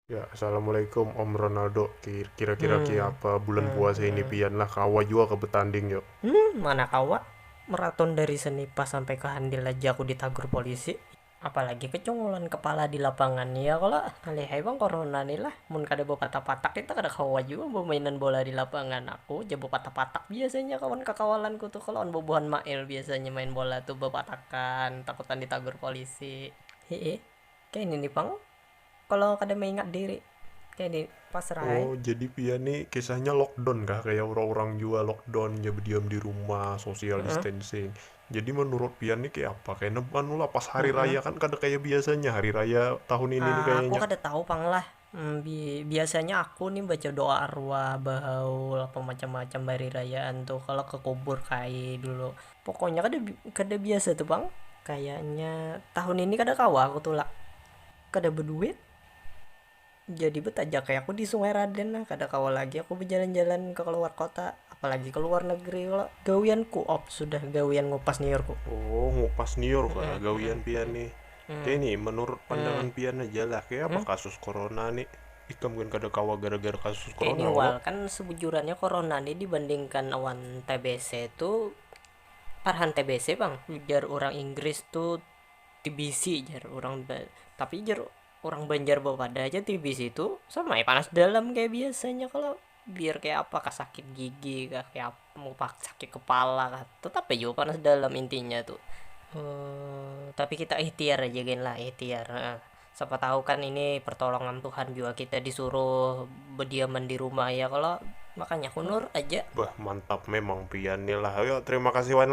Ya, Assalamualaikum Om Ronaldo, kira-kira hmm. apa bulan hmm. puasa ini hmm. pian lah kawa juga ke betanding yuk. Hmm, mana kawa? Meraton dari Senipa sampai ke Handil aja aku ditagur polisi. Apalagi kecungulan kepala di lapangan ya kalau alihai bang corona nih lah. Mun kada bawa patak-patak kita kada kawa juga bawa mainan bola di lapangan. Aku aja bawa patak-patak biasanya kawan kakawalanku tuh kalau on bobohan mail biasanya main bola tuh bawa patakan takutan ditagur polisi. Hehe, kayak ini nih pang kalo kada maingat diri kaya di pasrah ai. Oh jadi pian ni kisahnya lockdown kah kaya urang-urang jua lockdown jar bediam di rumah social distancing jadi menurut pian ni kaya apa kaya ne anu lah pas hari raya kan kada kaya biasanya hari raya tahun ini ni kayanya. Aku kada tahu pang lah biasanya aku ni baca doa arwah bahaul apa macam-macam bahari rayaan tu kalo ke kubur kaye dulu pokoknya kada biasa tu pang kayanya tahun ini kada kawa aku tulak. Kada beduit, jadi betajak ai aku di sungai raden nah kada kawa lagi aku bejalan-jalan ke keluar kota apalagi keluar negeri kalo gawian ku op sudah gawian ngupas nyiur ku. Oh ngupas nyiur kah gawian pian ni, kaya ni menurut pandangan pian haja lah kaya apa kasus corona ni, ikam gin kada kawa gara-gara kasus corona kah. Kaya ni wal kan sebujurannya corona ni dibandingkan awan tbc tu, parahan tbc pang ujar urang inggris tu Tbc jar urang ba tapi jar urang banjar bawadah ja tbc tu sama ai panas dalam kaya biasanya kalo biar kaya apa kah sakit gigi kah kaya apa sakit kepala kah tetap ai jua panas dalam intinya tu tapi kita ihtiar aja gin lah ihtiar ha siapa tahu kan ini pertolongan tuhan jua kita disuruh bediaman di rumah ya kalo makanya hunur aja. Bah mantap memang pian ni lah. Oke terima kasih wan.